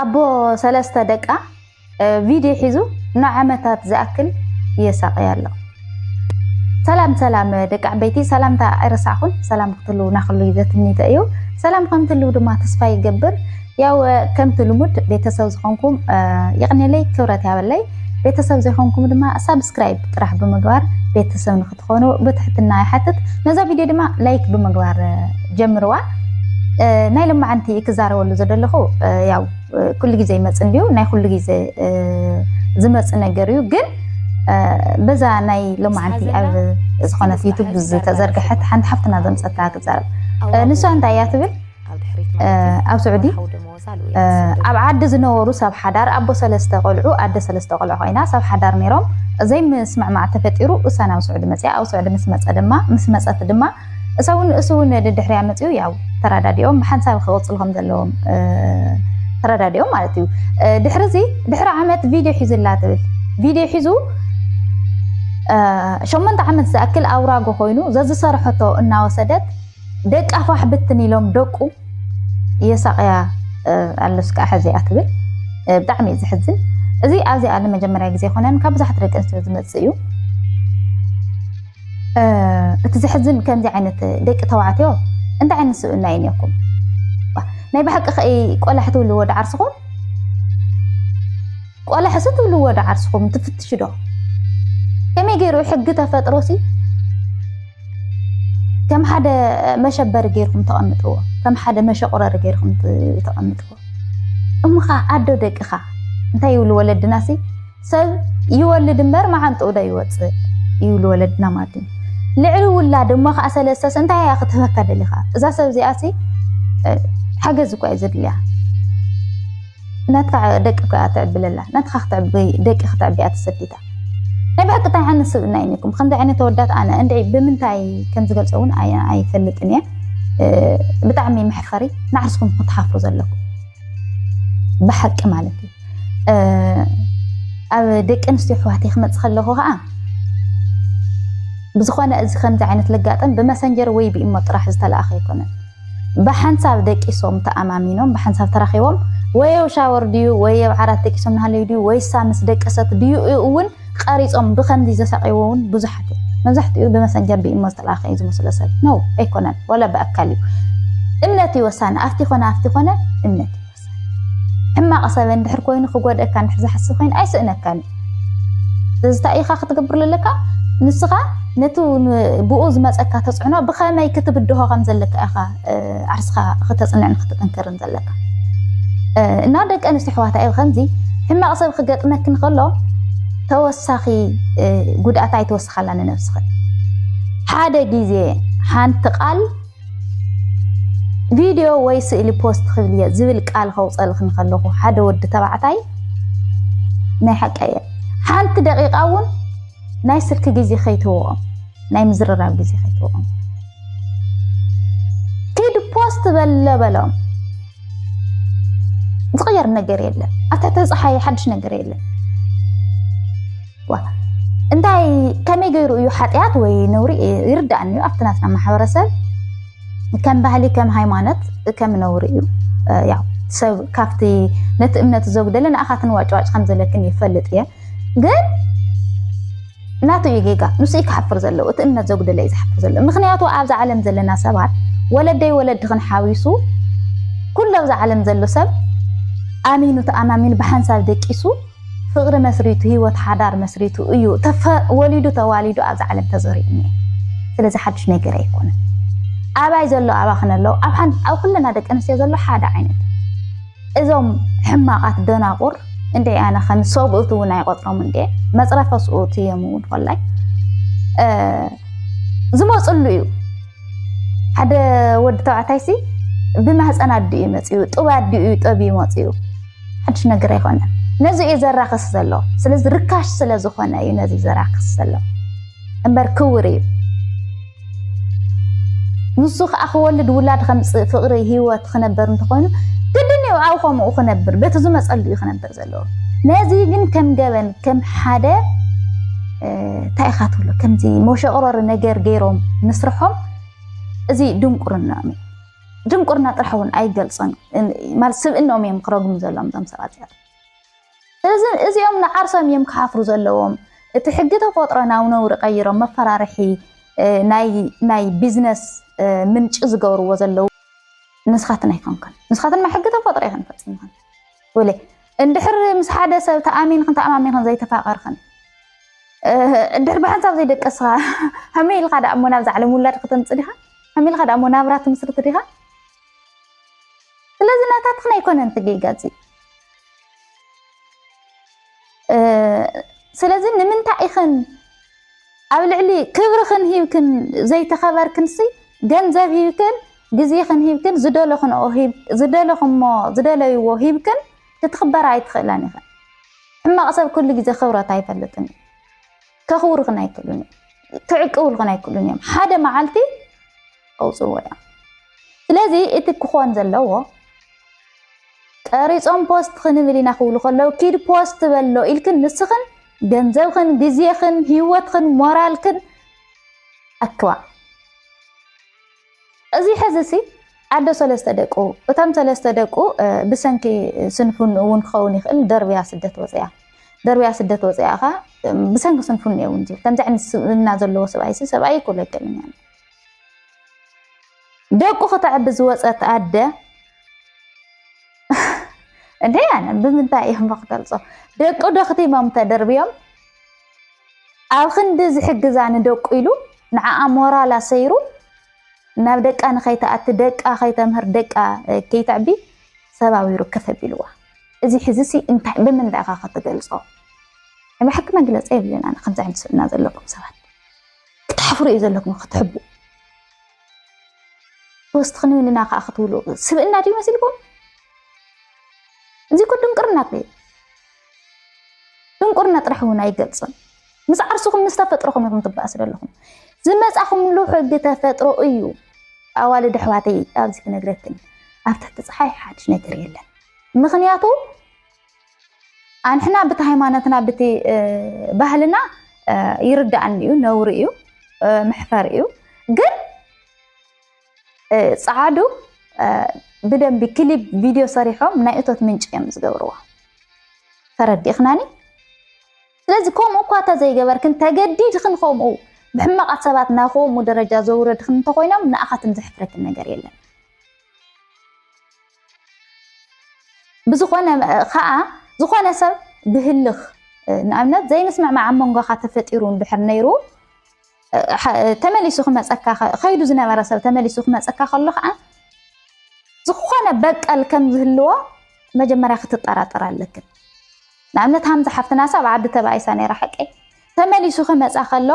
ኣቦ ሰለስተ ደቃ ቪድዮ ሒዙ ንዓመታት ዝኣክል የሳቅያ ኣሎ። ሰላም ሰላም ደቂ ዓበይቲ ሰላምታ ኣይረሳዕኹም። ሰላም ክትህልው ናክሉ ዘትኒተ እዩ። ሰላም ከምትህልው ድማ ተስፋ ይገብር። ያው ከምቲ ልሙድ ቤተሰብ ዝኾንኩም የቕኔለይ ክብረት ያበለይ ቤተሰብ ዘይኮንኩም ድማ ሳብስክራይብ ጥራሕ ብምግባር ቤተሰብ ንክትኾኑ ብትሕትና ይሓትት ነዛ ቪድዮ ድማ ላይክ ብምግባር ጀምርዋ ናይ ልማዓንቲ ክዛረበሉ ዘደለኹ ያው ኩሉ ግዜ ይመፅ እንዲዩ ናይ ኩሉ ግዜ ዝመፅ ነገር እዩ ግን በዛ ናይ ሎማዓንቲ ኣብ ዝኾነት ዩቱብ ዝተዘርግሐት ሓንቲ ሓፍትና ዘምፀታ ክዛረብ ንሷ እንታይ እያ ትብል ኣብ ስዑዲ ኣብ ዓዲ ዝነበሩ ሰብ ሓዳር ኣቦ ሰለስተ ቆልዑ ኣደ ሰለስተ ቆልዑ ኮይና ሰብ ሓዳር ነይሮም ዘይምስምዕማዕ ተፈጢሩ እሳ ናብ ስዑዲ መፅያ ኣብ ስዑዲ ምስ መፀ ድማ ምስ መፀት ድማ እሰውን እሱውን ድድሕርያ መፅኡ ያው ተረዳዲኦም ብሓንሳብ ክቕፅሉ ከም ዘለዎም ተረዳዲኦም ማለት እዩ ድሕሪ እዚ ድሕሪ ዓመት ቪድዮ ሒዙላ ትብል ቪድዮ ሒዙ ሸሞንተ ዓመት ዝኣክል ኣውራጎ ኮይኑ ዘዝሰርሐቶ እናወሰደት ደቃ ፋሕ ብትን ኢሎም ደቁ የሳቅያ ኣለስ ከዓ ሕዚያ ትብል ብጣዕሚ እዩ ዝሕዝን እዚ ኣብዚ ኣለ መጀመርያ ግዜ ኮነን ካብ ብዙሓት ደቂ ኣንስትዮ ዝመፅእ እዩ እቲ ዘሕዝን ከምዚ ዓይነት ደቂ ተባዕትዮ እንታይ ዓይነት ስብእና እዩ እኒኩም ናይ ብሓቂ ከ ቆላሕ ትብልዎ ዳዓርስኹም ቆላሕሲ ትብልዎ ዳዓርስኹም ትፍትሽ ዶ ከመይ ገይሩ ሕጊ ተፈጥሮሲ ከም ሓደ መሸበሪ ገይርኩም ተቐምጥዎ ከም ሓደ መሸቑረሪ ገይርኩም ተቐምጥዎ እምኻ ኣዶ ደቅኻ እንታይ ይብሉ ወለድና ሲ ሰብ ይወልድ እምበር መዓንጥኡ ዶ ይወፅእ ይብሉ ወለድና ማለት እዩ ልዕሊ ውላድ እሞ ከዓ ሰለሰስ እንታይ እያ ክትህበካ ደሊኻ እዛ ሰብ እዚኣ ሲ ሓገዝ እኳ እዩ ዘድልያ ናትካ ደቂ እኳ እያ ትዕብለላ ናትካ ደቂ ክትዕብያ ተሰዲታ ናይ ብሓቂ ታይ ዓይነት ስብእና እዩ ኒኩም ከምዚ ዓይነት ተወዳት ኣነ እንድዒ ብምንታይ ከም ዝገልጾ እውን ኣይፈልጥን እየ ብጣዕሚ መሕፈሪ ንዓርስኩም ክትሓፍሩ ዘለኩም ብሓቂ ማለት እዩ ኣብ ደቂ ኣንስትዮ ኣሕዋተይ ክመፅእ ከለኹ ከዓ ብዝኾነ እዚ ከምዚ ዓይነት ልጋጠም ብመሰንጀር ወይ ብኢሞ ጥራሕ ዝተለኣኸ ኣይኮነን ብሓንሳብ ደቂሶም ተኣማሚኖም ብሓንሳብ ተራኺቦም ወይ ኣብ ሻወር ድዩ ወይ ኣብ ዓራት ደቂሶም ናሃለዩ ድዩ ወይሳ ምስ ደቀሰት ድዩ እውን ቐሪጾም ብኸምዚ ዘሳቐይዎ እውን ብዙሓት እዮም። መብዛሕትኡ ብመሰንጀር ብኢሞ ዝተላእከ እዩ ዝመስሎ ሰብ ነው ኣይኮነን ዋላ ብኣካል እዩ እምነት እዩ ወሳኒ ኣብቲ ኮነ ኣብቲ ኮነ እምነት እዩ ሕማቕ ሰብ እንድሕር ኮይኑ ክጎድእካ እንድሕር ዝሓስብ ኮይኑ ኣይስእነካን እዩ እዚ እንታይ ኢኻ ክትገብር ዘለካ ንስኻ ነቲ ብኡ ዝመፀካ ተፅዕኖ ብኸመይ ክትብድሆ ከም ዘለካ ኢኻ ዓርስኻ ክተፅንዕን ክትጥንክርን ዘለካ እና ደቂ ኣንስትዮ ኣሕዋታ እዩ ከምዚ ሕማቕ ሰብ ክገጥመኪ ንከሎ ተወሳኺ ጉድኣት ኣይተወስኻላ ንነብስኽን ሓደ ግዜ ሓንቲ ቃል ቪድዮ ወይ ስእሊ ፖስት ክብል እየ ዝብል ቃል ከውፀልክ ንከለኩ ሓደ ወዲ ተባዕታይ ናይ ሓቂ እየ ሓንቲ ደቂቃ እውን ናይ ስልኪ ግዜ ከይትወኦም ናይ ምዝርራብ ግዜ ከይትወኦም ኪድ ፖስት በለ በሎም ዝቕየር ነገር የለን ኣታ ተፀሓየ ሓድሽ ነገር የለን እንታይ ከመይ ገይሩ እዩ ሓጢኣት ወይ ነውሪ ይርዳእኒ እዩ ኣብቲ ናትና ማሕበረሰብ ከም ባህሊ ከም ሃይማኖት ከም ነውሪ እዩ ያው ሰብ ካብቲ ነቲ እምነት ዘጉደለ ንኣኻትን ዋጭዋጭ ከም ዘለክን ይፈልጥ እየ ግን ናቱ እዩ ጌጋ ንሱ እዩ ክሓፍር ዘለዎ እቲ እምነት ዘጉደለ እዩ ዝሓፍር ዘሎ ምክንያቱ ኣብዚ ዓለም ዘለና ሰባት ወለደይ ወለድኽን ሓዊሱ ኩሉ ኣብዚ ዓለም ዘሎ ሰብ ኣሚኑ ተኣማሚኑ ብሓንሳብ ደቂሱ ፍቕሪ መስሪቱ ሂወት ሓዳር መስሪቱ እዩ ወሊዱ ተዋሊዱ ኣብዛ ዓለም ተዘሪኡ እኒኤ። ስለዚ ሓዱሽ ነገር ኣይኮነን። ኣባይ ዘሎ ኣባኽነ ኣሎ ኣብ ኩለና ደቂ ኣንስትዮ ዘሎ ሓደ ዓይነት እዞም ሕማቓት ደናቑር እንደ ኣነ ከም ሰብኡት እውን ኣይቆጥሮም እንደ መፅረፈ ስኡት እዮም እውን ኮላይ ዝመፅሉ እዩ ሓደ ወዲ ተባዕታይ ሲ ብማህፀን ኣዲኡ እዩ መፅኡ ጥብ ኣዲኡ እዩ ጠብ መፅኡ ሓድሽ ነገር ኣይኮነን። ነዚ እዩ ዘራክስ ዘሎ ስለዚ ርካሽ ስለ ዝኾነ እዩ ነዚ ዘራክስ ዘሎ እምበር ክውር እዩ ንሱ ከዓ ክወልድ ውላድ ከምፅእ ፍቅሪ ሂወት ክነበር እንተኾይኑ ግድን እዩ ኣብ ከምኡ ክነብር በቲ ዝመፀሉ እዩ ክነብር ዘለዎ ነዚ ግን ከም ገበን ከም ሓደ እንታይ ኢኻ ትብሎ ከምዚ መሸቕረሪ ነገር ገይሮም ምስርሖም እዚ ድንቁርና እዩ ድንቁርና ጥራሕ እውን ኣይገልፆን ማለት ስብእኖም እዮም ክረግሙ ዘለዎም እዞም ሰባት እዚኣቶ ስለዚ እዚኦም ንዓርሶም እዮም ክሓፍሩ ዘለዎም እቲ ሕጊ ተፈጥሮ ናብ ነውሪ ቀይሮም መፈራርሒ ናይ ቢዝነስ ምንጪ ዝገብርዎ ዘለዉ ንስኻትን ኣይኮንክን ንስኻትንማ ሕጊ ተፈጥሮ ይኽን ፈፂምኹን ወለ እንድሕር ምስ ሓደ ሰብ ተኣሚንክን ተኣማሚንክን ዘይተፋቐርክን እንድሕር ብሓንሳብ ዘይደቀስኻ ከመይ ኢልካ ደኣ እሞ ናብዛ ዓለም ውላድ ክተምፅ ዲኻ ከመይ ኢልካ ደኣ እሞ ናብራ ትምስርት ዲኻ ስለዚ ናታትኽን ኣይኮነን ትጌጋፂ ስለዚ ንምንታይ ኢኽን ኣብ ልዕሊ ክብርኽን ሂብክን ዘይተኸበርክንሲ ገንዘብ ሂብክን ግዜኽን ሂብክን ዝደለኽንኦ ዝደለኽሞ ዝደለይዎ ሂብክን ክትኽበራ ኣይትኽእላን ኢኽን። ሕማቕ ሰብ ኩሉ ግዜ ክብረት ኣይፈልጥን እዩ። ከኽብሩኽን ኣይክእሉን እዮም ክዕቅብልኽን ኣይክእሉን እዮም ሓደ መዓልቲ ከውፅዎ እዮም ስለዚ እቲ ክኾን ዘለዎ ቀሪፆም ፖስት ክንብል ኢና ክብሉ ከለው ኪድ ፖስት በሎ ኢልክን ንስኽን ገንዘብኽን ግዜኽን ሂወትኽን ሞራልክን ኣክባ እዚ ሕዚሲ ኣዶ ሰለስተ ደቁ እቶም ሰለስተ ደቁ ብሰንኪ ስንፍንኡ እውን ክኸውን ይኽእል ደርብያ ስደት ወፅያ ደርብያ ስደት ወፅያ ኸ ብሰንኪ ስንፍንኡ እውን ዝብል ከምዚ ዓይነት ስብእና ዘለዎ ሰብኣይሲ ሰብኣይ ይኩሎ ይገለኛ ደቁ ከተዕቢ ዝወፀት ኣደ እንዴ ኣነ ብምንታይ እዮም ክገልፆ ደቁ ዶ ክቲሞም ተደርብዮም ኣብ ክንዲ ዝሕግዛ ንደቁ ኢሉ ንዓኣ ሞራል ኣሰይሩ ናብ ደቃ ንኸይትኣቲ ደቃ ከይተምህር ደቃ ከይተዕቢ ሰብ ኣውይሩ ከፍ ኣቢልዋ እዚ ሕዚሲ እንታይ ብምንታይ ኢኻ ክትገልጾ ብሓቂ መግለጺ የብልን ኣነ ከምዚ ዓይነት ስብእና ዘለኩም ሰባት ክትሓፍሩ እዩ ዘለኩም ክትሕቡ ወስትኽ ንብልና ከዓ ክትብሉ ስብእና ድዩ መሲልኩም እዚ እኮ ድንቅርና እዩ ድንቁርና ጥራሕ እውን ኣይገልፅን። ምስ ዓርስኹም ምስ ተፈጥሮኹም ኢኹም ትበኣሱ ዘለኹም። ዝመፃኹምሉ ሕጊ ተፈጥሮ እዩ። ኣዋልድ ኣሕዋተይ ኣብዚ ክነግረክን ኣብ ትሕቲ ፀሓይ ሓድሽ ነገር የለን። ምክንያቱ ኣንሕና ብቲ ሃይማኖትና ብቲ ባህልና ይርዳእኒ እዩ፣ ነውሪ እዩ፣ መሕፈር እዩ ግን ጸዓዱ ብደንቢ ክሊፕ ቪድዮ ሰሪሖም ናይ እቶት ምንጪ እዮም ዝገብርዎ ተረዲእኽናኒ ስለዚ ከምኡ እኳ እንተዘይገበርክን ተገዲድክን ከምኡ ብሕማቓት ሰባት ናብ ከምኡ ደረጃ ዘውረድክን እንተኮይኖም ንኣኻትን ዘሕፍረክን ነገር የለን ብዝኾነ ከዓ ዝኾነ ሰብ ብህልኽ ንኣብነት ዘይምስምዕማዕ ኣብ መንጎኻ ተፈጢሩ እንድሕር ነይሩ ተመሊሱ ክመፀካ ከይዱ ዝነበረ ሰብ ተመሊሱ ክመፀካ ከሎ ከዓ ዝኾነ በቀል ከም ዝህልዎ መጀመርያ ክትጠራጠር ኣለክን ንኣብነት ሃምዛ ሓፍትና ሳብ ዓዲ ተባኢሳ ነራ ሓቀይ ተመሊሱ ክመፃ ከሎ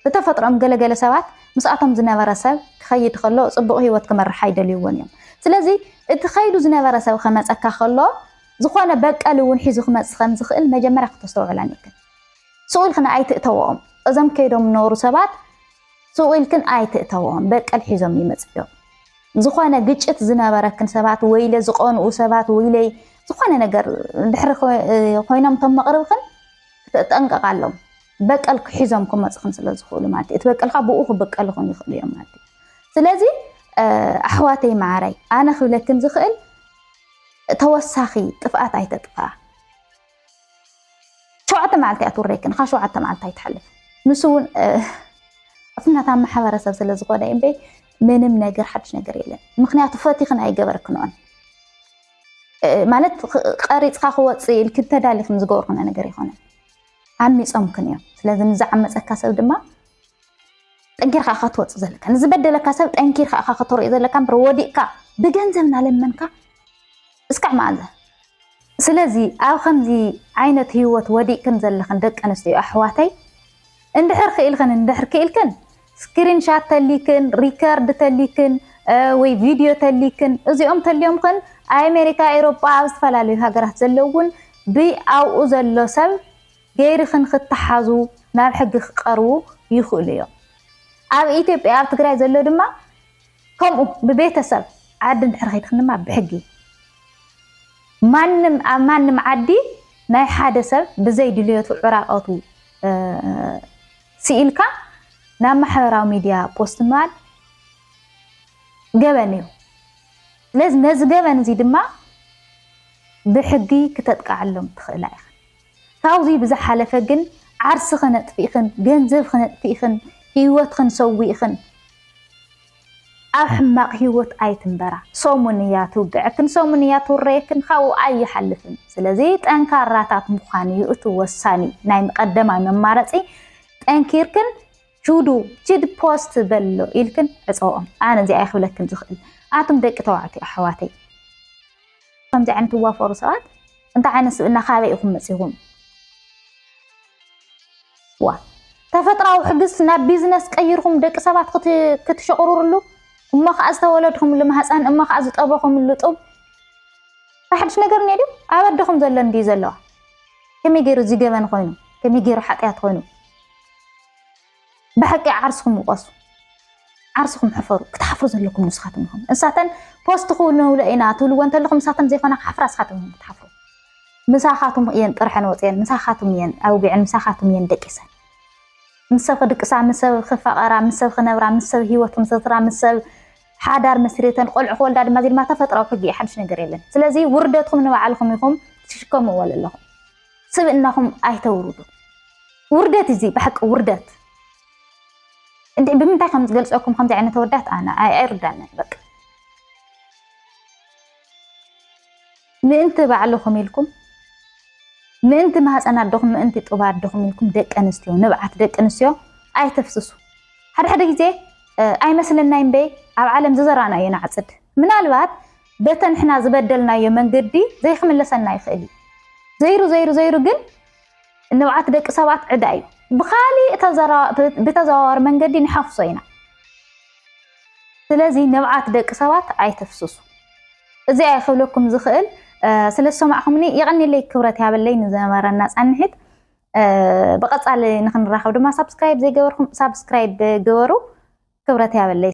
ብተፈጥሮኦም ገለገለ ሰባት ምስኣቶም ዝነበረ ሰብ ክኸይድ ከሎ ፅቡቅ ሂወት ክመርሓ ይደልይዎን እዮም ስለዚ እቲ ከይዱ ዝነበረ ሰብ ከመፀካ ከሎ ዝኾነ በቀል እውን ሒዙ ክመፅእ ከም ዝኽእል መጀመርያ ክተስተውዕል ኣኒክን። ስቅ ኢልክን ኣይትእተወኦም እዞም ከይዶም ዝነበሩ ሰባት ስቅ ኢልክን ኣይትእተወኦም በቀል ሒዞም ይመፅኡ እዮም። ዝኾነ ግጭት ዝነበረክን ሰባት ወይለ ዝቀንኡ ሰባት ወይለይ ዝኾነ ነገር ድሕሪ ኮይኖም እቶም መቅርብክን ክተጠንቀቃ ኣሎም በቀል ክሒዞም ክመፅኽን ስለ ዝኽእሉ ማለት እዩ እቲ በቀልካ ብኡ ክብቀልኹን ይኽእሉ እዮም ማለት እዩ ስለዚ ኣሕዋተይ መዓረይ ኣነ ክብለክን ዝኽእል ተወሳኺ ጥፍኣት ኣይተጥፍኣ። ሸውዓተ መዓልቲ እያ ትውረየክን፣ ካብ ሸውዓተ መዓልቲ ኣይትሓልፍ። ንሱ እውን ፍናታ ማሕበረሰብ ስለ ዝኾነ እዩ እምበይ ምንም ነገር ሓድሽ ነገር የለን። ምክንያቱ ፈቲኽን ኣይገበርክንኦን ማለት ቀሪፅካ ክወፅእ ኢልክን ተዳሊኽን ዝገበርክንኦ ነገር ይኮነን። ዓሚፆምክን እዮም። ስለዚ ንዝዓመፀካ ሰብ ድማ ጠንኪርካ እኻ ክትወፅእ ዘለካ ንዝበደለካ ሰብ ጠንኪርካ እኻ ከተርእዮ ዘለካ እምበር ወዲቕካ ብገንዘብ እናለመንካ እስካዕ መዓዘ ስለዚ ኣብ ከምዚ ዓይነት ህይወት ወዲቕክን ዘለኽን ደቂ ኣንስትዮ ኣሕዋተይ እንድሕር ክኢልክን እንድሕር ክኢልክን ስክሪንሻት ተሊክን ሪከርድ ተሊክን ወይ ቪድዮ ተሊክን እዚኦም ተሊዮምክን ኣሜሪካ ኤሮጳ ኣብ ዝተፈላለዩ ሃገራት ዘለውን ብኣብኡ ዘሎ ሰብ ገይርክን ክተሓዙ ናብ ሕጊ ክቀርቡ ይክእሉ እዮም። ኣብ ኢትዮጵያ ኣብ ትግራይ ዘሎ ድማ ከምኡ ብቤተሰብ ዓዲ እንድሕር ከይድክን ድማ ብሕጊ ማንም ኣብ ማንም ዓዲ ናይ ሓደ ሰብ ብዘይ ድልየቱ ዕራቀቱ ስኢልካ ናብ ማሕበራዊ ሚድያ ፖስት ምባል ገበን እዩ። ስለዚ ነዚ ገበን እዚ ድማ ብሕጊ ክተጥቃዓሎም ትክእላ ኢክን። ካብዙይ ብዝሓለፈ ግን ዓርስኽን ኣጥፊእኽን፣ ገንዘብኽን ኣጥፊእኽን፣ ህይወትኽን ሰዊእኽን ኣብ ሕማቕ ህይወት ኣይትንበራ። ሰሙን እያ ትውግዐክን፣ ሰሙን እያ ትውረየክን፣ ካብኡ ኣይሓልፍን። ስለዚ ጠንካራታት ምዃን እዩ እቲ ወሳኒ ናይ ቀደማይ መማረፂ። ጠንኪርክን ጁዱ ጅድ ፖስት በሎ ኢልክን ዕፀኦም። ኣነ እዚኣ ክብለክን ዝኽእል ኣቱም ደቂ ተባዕትዮ ኣሕዋተይ ከምዚ ዓይነት ትዋፈሩ ሰባት እንታይ ዓይነት ስብእና ካበይ ኢኹም መጺኹም? ዋ ተፈጥራዊ ሕግስ ናብ ቢዝነስ ቀይርኩም ደቂ ሰባት ክትሸቕርርሉ እሞ ከዓ ዝተወለድኹምሉ ማህፀን እሞ ከዓ ዝጠበኹምሉ ጡብ ሓድሽ ነገር እኒኦ ድዩ? ኣብ ኣደኹም ዘሎ እንድዩ ዘለዋ ከመይ ገይሩ እዚ ገበን ኮይኑ ከመይ ገይሩ ሓጢኣት ኮይኑ ብሐቂ ዓርስኹም ውቀሱ ዓርስኹም ሕፈሩ ክትሓፍሩ ዘለኩም ንስኻትኩም ኢኹም እሳተን ፖስት ክውንውለ ኢና ትብልዎ እንተለኹም እሳተን ዘይኮና ክሓፍራ ንስኻትኩም ኢኹም ክትሓፍሩ ምሳኻትኩም እየን ጥርሐን ወፅየን ምሳኻትኩም እየን ኣውጊዐን ምሳኻትኩም እየን ደቂሰን ምስ ሰብ ክድቅሳ ምስ ሰብ ክፋቐራ ምስ ሰብ ክነብራ ምስ ሰብ ሂወት ክምስርትራ ምስ ሰብ ሓዳር መስሪተን ቆልዑ ክወልዳ ድማ እዚ ድማ ተፈጥራዊ ሕጊ እዩ ሓድሽ ነገር የለን ስለዚ ውርደትኩም ንባዕልኹም ኢኹም ትሽከምዎ ዘለኹም ስብእናኹም ኣይተውርዱ። ውርደት እዚ ብሓቂ ውርደት እንዴ ብምንታይ ከም ዝገልጸኩም ከምዚ ዓይነት ወዳት ኣነ ኣይርዳንን በቃ ምእንቲ ባዕልኹም ኢልኩም ምእንቲ ማህፀን ኣደኹም ምእንቲ ጡባ ኣደኹም ኢልኩም ደቂ ኣንስትዮ ንብዓት ደቂ ኣንስትዮ ኣይተፍስሱ ሓደ ሓደ ግዜ ኣይመስለናይ እምበይ ኣብ ዓለም ዝዘራእናዮ ንዓፅድ ምናልባት በተ ንሕና ዝበደልናዮ መንገዲ ዘይክምለሰና ይኽእል እዩ። ዘይሩ ዘይሩ ዘይሩ ግን ንብዓት ደቂ ሰባት ዕዳ እዩ። ብኻሊእ ብተዘዋዋሪ መንገዲ ንሓፍሶ ኢና። ስለዚ ንብዓት ደቂ ሰባት ኣይተፍስሱ። እዚኣ ይኽብለኩም ዝኽእል ስለ ዝሰማዕኹምኒ የቐኒለይ ክብረት ያበለይ ንዝነበረና ፃንሒት ብቐፃሊ ንክንራኸብ ድማ ሳብስክራይብ ዘይገበርኩም ሳብስክራይብ ገበሩ። ክብረት ያበለይ።